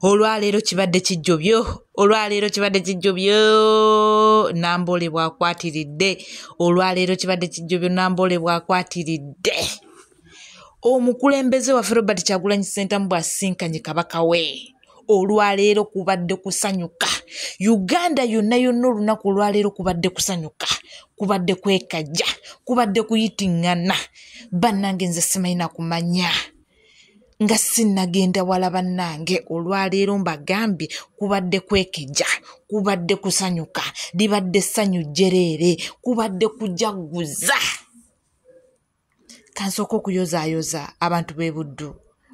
olwaleero kibadde kijjobyo olwaleero kibadde kijjobyo namboole bwakwatiridde olwaleero kibadde kijjobyo namboole bwakwatiridde omukulembeze waffe robert kyagulanyi sentamu bwasisinkanye kabaka we olwaleero kubadde kusanyuka uganda yonna yonna olunaku olwaleero kubadde kusanyuka kubadde kwekajja kubadde kuyitingana bannange nze simanyi nakumanya nga sinnagenda wala bannange olwaleero mbagambye kubadde kwekejja kubadde kusanyuka libadde ssanyu jjereere kubadde kujagguza kansooka okuyozaayoza abantu b'e buddu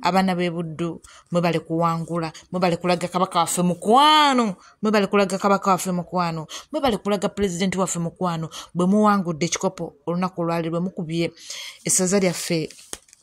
abaana b'e buddu mwe bali kuwangula mwe bali kulaga kabaka waffe mukwano mwe bali kulaga kabaka waffe mukwano mwe bali kulaga pulezidenti waffe mukwano bwe muwangudde ekikopo olunaku olwaleero bwe mukubye essaza lyaffe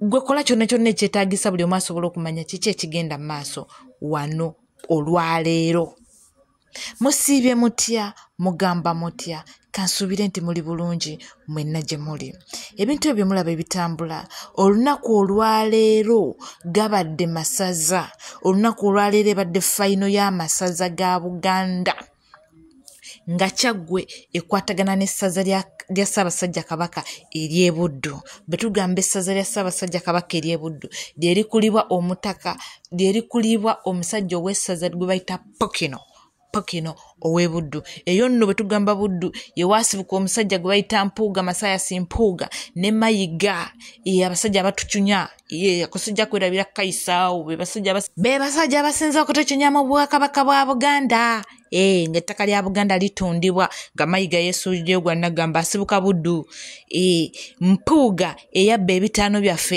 gwe kola kyonna kyonna ekyetagisa buli omu asobola okumanya kiki ekigenda mu maaso wano olwaleero musiibye mutya mugamba mutya kansuubire nti muli bulungi mwenna gye muli ebintu ebyo mulaba ebitambula olunaku olwaleero gabadde masaza olunaku olwaleero ebadde fayino y'amasaza ga buganda nga kyaggwe ekwatagana n'essaza lya ssaabasajja kabaka ery'ebuddu bwe tugamba essaza lya ssaabasajja kabaka ery'ebuddu lye likulibwa omutaka lye likulibwa omusajja ow'essaza gwe bayita pokino pokino ow'ebuddu eyo nno bwe tugamba buddu ye waasibuka omusajja gwe bayita mpuuga masayasi mpuuga ne mayiga ye abasajja abatucunya ye kusijja kwerabira kukayisaawo be basajja abasinza okutekinya mu bwakabaka bwa buganda e, ng'ettaka lya buganda litundibwa nga mayiga yesuulireyo gwa nagamba asibuka buddu e, mpuuga eyabba ebitaano byaffe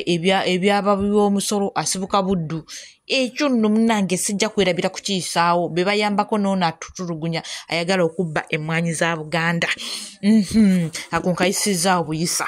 ebyababi b'omusolo asibuka buddu ekyo nno munange sijja kwerabira kukiyisaawo be bayambako noono atutulugunya ayagala okubba emmwanyi za buganda mhm, ako nkayisizaawo buyisa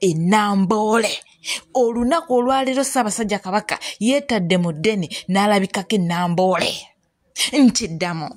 enamboole olunaku olwaleero ssaabasajja kabaka yeetadde mu ddene n'alabikako enamboole nti ddamu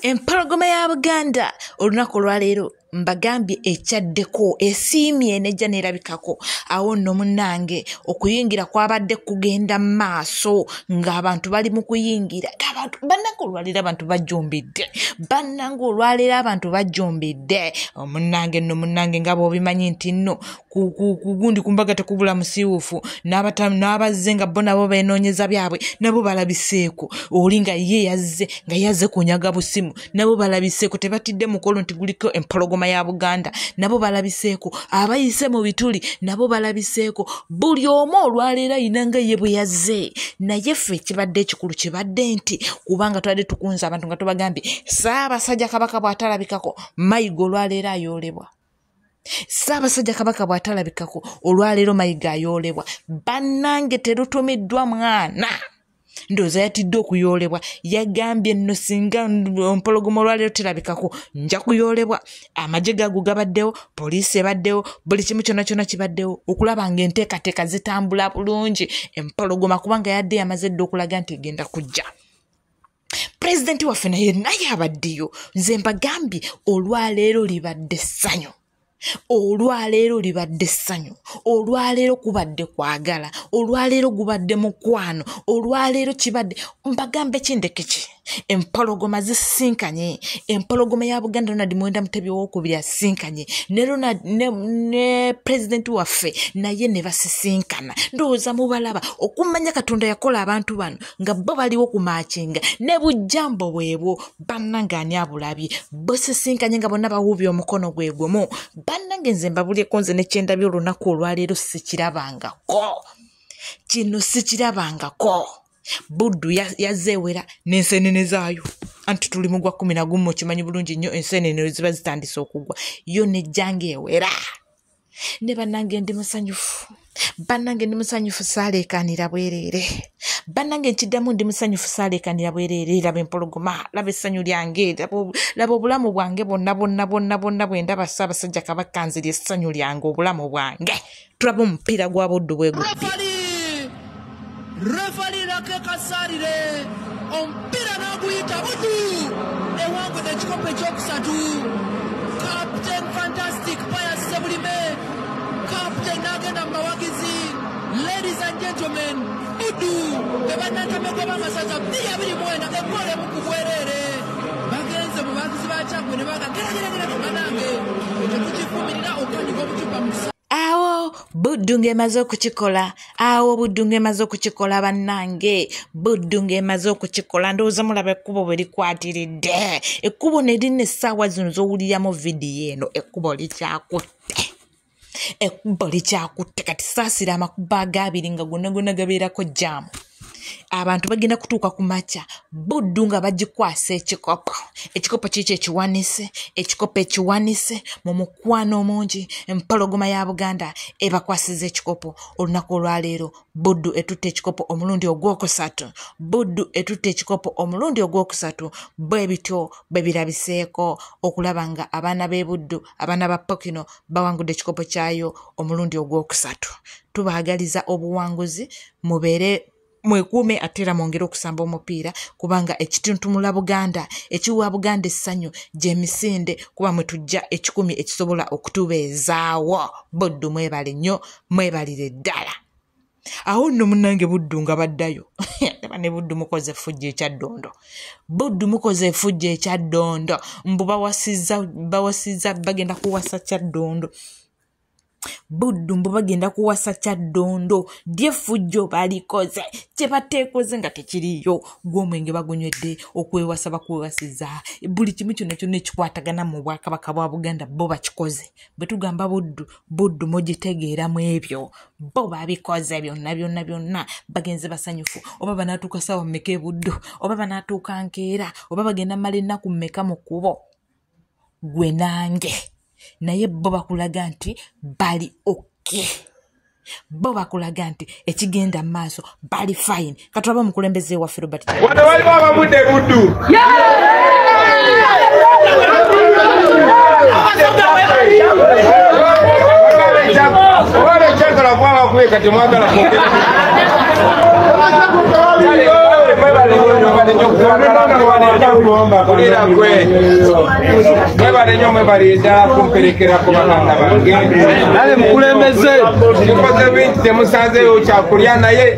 empologoma ya buganda olunaku olwaleero mbagambye ekyaddeko esiimye nejja neerabikako awo nno munnange okuyingira kwabadde kugenda mu maaso ng'abantu bali mu kuyingira abantu bannange olwaleero abantu bajjumbidde bannange olwaleero abantu bajjumbidde munnange nno munnange nga bwobimanyi nti nno kugundi ku mbaga tekubula musiiwuufu n'abazze nga bo nabo beenoonyeza byabwe nabo balabiseeko oli nga ye yazze nga yazze kunyaga busimu nabo balabiseeko tebatidde mukolo nti guliko empologoma ya buganda nabo balabiseeko abayise mu bituli nabo balabiseeko buli omu olwaleero ayina nga ye bwe yazze naye ffe ekibadde ekikulu kibadde nti kubanga twali tukunze abantu nga tubagambye saabasajja kabaka bw'atalabikako mayiga olwaleero ayoolebwa ssaabasajja kabaka bw'atalabikako olwaleero mayiga ayoolebwa bannange terutumiddwa mwana ndowooza yatidde okuyoolebwa yagambye nno singa mpologoma olwaleero terabikako nja kuyoolebwa amagye gago gabaddewo poliisi ebaddewo buli kimu kyona kyona kibaddewo okulaba nga enteekateeka zitambula bulungi empologoma kubanga yadde yamaze dde okulaga nti egenda kujja pulezidenti waffe naye naye abaddeyo nze mbagambye olwaleero libadde ssanyu olwaleero libadde ssanyu olwaleero kubadde kwagala olwaleero gubadde mukwano olwaleero kibadde mbagambe kindeke ki empologoma zisisinkanye empologoma ya buganda ronald mwenda mutebi owokubiri asisinkanye ne ronald ne, ne pulezidenti waffe naye ne basisinkana ndowooza mubalaba okumanya katonda yakola abantu bano nga bo baliwo ku makinga ne bujjambo bwebwo bannange ani abulabye busisinkanye nga bonna bawuubye omukono gwe gumu bannange nze mbabulyeko nze nekyendabye olunaku olwaleero sikirabangako kino sikirabangako buddu yazeewera n'ensenene zaayo anti tuli mu gwa kumi na gumu okimanyi bulungi nnyo ensenene ziba zitandise okugwa yo nejjanga ewera ne bannange ndi musanyufu bannange ndi musanyufu saaleekaanira bwereere bannange nkiddamu ndi musanyufu saaleekaanira bwereere laba empologoma laba essanyu lyange laba obulamu bwange bonna bonna bonna bonna bwe ndaba ssaabasajja kabaka nziri essanyu lyange obulamu bwange tulaba omupiira gwa buddu bwe gubbi Refali Lake Kasarire omupiira n'aguyita budu ewangudde ekikopo ekyokusatu Captain Fantastic Pius Ssebulime Captain n'agenda mu bawagizi Ladies and gentlemen budu be bannantamegwa b'amasaza bbiri abiri mwenda ekkola emu ku bwereere bagenze mu bawagizi ba Kyaggwe ne baga gerageragerage banange ekyo tukivumirira okutandika obucupa mu awo buddu ng'emaze okukikola awo buddu ng'emaze okukikola bannange buddu ng'emaze okukikola ndowooza mulaba ekkubo bwe likwatiridde ekkubo ne lina essaawa zino z'owuliramu vidiyo eno ekkubo likyakutte ekkubo likyakutte kati saasira amakubo agaabiri nga gonna gonna gabeerako jaamu abantu bagenda kutuuka ku makya buddu nga bagikwasa ekikopo ekikopo kiikyo ekiwanise ekikopo ekiwanise mu mukwano omungi empologoma ya buganda ebakwasiza ekikopo olunaku olwaleero buddu etutte ekikopo omulundi ogwokusatu buddu etutte ekikopo omulundi ogwokusatu bwe bityo bwe birabiseeko okulaba nga abaana b'e buddu abaana ba pokino bawangudde ekikopo kyayo omulundi ogwokusatu tubaagaliza obuwanguzi mubeere mwekuume ate era mwongere okusamba omupiira kubanga ekituntumula buganda ekiwa buganda essanyu gyemisinde kuba mwe tujja ekikumi ekisobola okutubeezaawo boddu mwebale nnyo mwebalire ddala awo nno munange buddu nga baddayo aba ne buddu mukoze efujja ekyaddondo buddu mukoze efujja ekyaddondo mbu bawasiza bawasiza bagenda kuwasa kyaddondo buddu mbu bagenda kuwasa kyaddondo lyefujjo balikoze kyebateekoze nga tekiriyo gwomwenge bagunywedde okwewasa bakwewasiza buli kimu kyonna kyonna ekikwatagana mu bwakabaka bwa buganda bo bakikoze bwe tugamba buddu buddu mugitegeera mu ebyo bo babikoze byonna byonna byonna bagenze basanyufu oba banaatuuka saawa mmeka ebuddu oba banaatuuka nkeera oba bagenda mala ennaku mmeka mu kkubo gwe nange naye bo bakulaga nti bali oke bo bakulaga nti ekigenda mu maaso bali fayini katulaba omukulembeze waffe robert wano waliwo abamudde buddu mwebalenyo mwebalida kumperekera ku bakanga bange nale mukulembeze mukoze bingi temusanzeyo kyakulya naye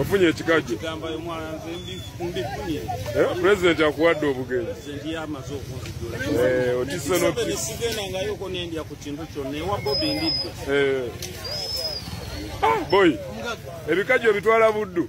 ofunye ekikajjo eh, pulezidenti akuwadde obugenzi eh, otise boy ebikajjo bitwala buddu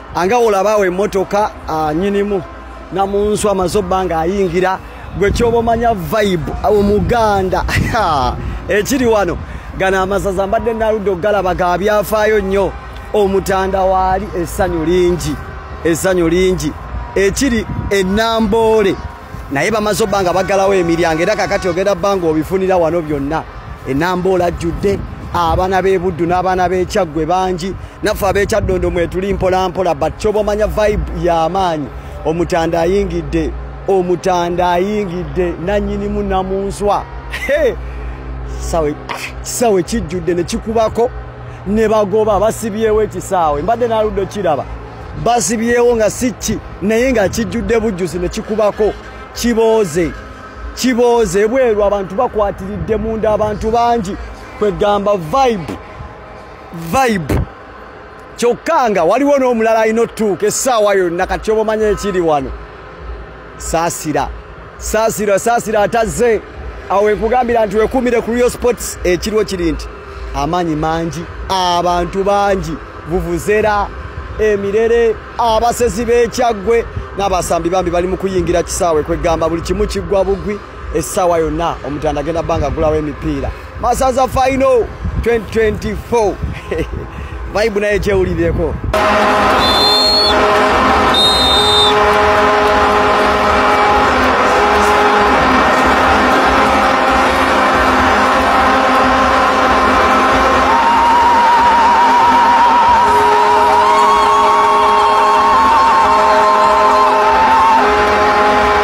anga olabaawo emmotoka ah, nyinimu namunsu amaze obba nga ayingira gwe kyoba omanya vibe ah, omuganda ekiri wano gano amasaza mbadde naludde okugalaba ga byafaayo nnyo omutanda waali essanyu lingi essanyu lingi ekiri enamboole naye bamaze obba nga baggalawo emiryango era kakati ogenda bba nga obifunira wano byonna enamba olajjudde abaana b'ebuddu n'abaana b'ekyaggwe bangi naffe ab'ekyaddondo mwetuli mpolampola but kyoba omanya vibe y'amaanyi omutanda ayingidde omutanda ayingidde nannyinimu namunswa kisaawe kijjudde ne kikubako ne bagoba basibyewo ekisaawe mbadde naludde okiraba basibyewo nga sikki naye nga kijjudde bujjuzi ne kikubako kibooze kibooze bweru abantu bakwatiridde munda abantu bangi kwegamba vibe vibe kyokka nga waliwo n'omulala alina otuuka essaawa yonna kati oba omanya ekiri wano saasira saasira saasira atazze awo wenkugambira nti wekumire ku real sports ekiriwo kiri nti amaanyi mangi abantu bangi vuvuzera emirere abasezi b'ekyaggwe n'abasambi bambi bali mu kuyingira kisaawe kwegamba buli kimu kiggwa bugwi essaawa yonna omutanda agenda banga agulawo emipiira masaza final 2024 vibe naye kyewulirireko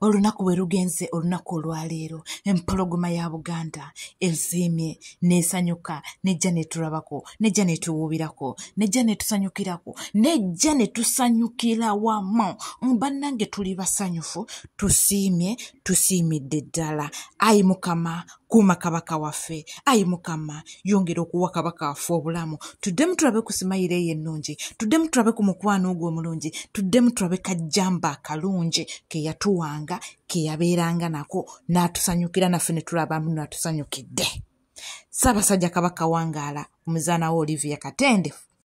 olunaku bwe lugenze olunaku olwaleero empologoma ya buganda eziimye nesanyuka nejja netulabako nejja netuwuubirako nejja netusanyukirako nejja netusanyukira wamu banange tuli basanyufu tusiimye tusiimidde ddala ayi mukama kuuma kabaka waffe ayi mukama yongera okuwa kabaka waffe obulamu tuddemu tulabe ku simayiro eyo ennungi tuddemu tulabe ku mukwano ogwo omulungi tuddemu tulabe kajjamba akalungi ke yatuwanga ke yabeeranga nako n'atusanyukira naffe ne tulabamu n'atusanyukidde ssaabasajja kabaka wangaala omuzaana we olivia katende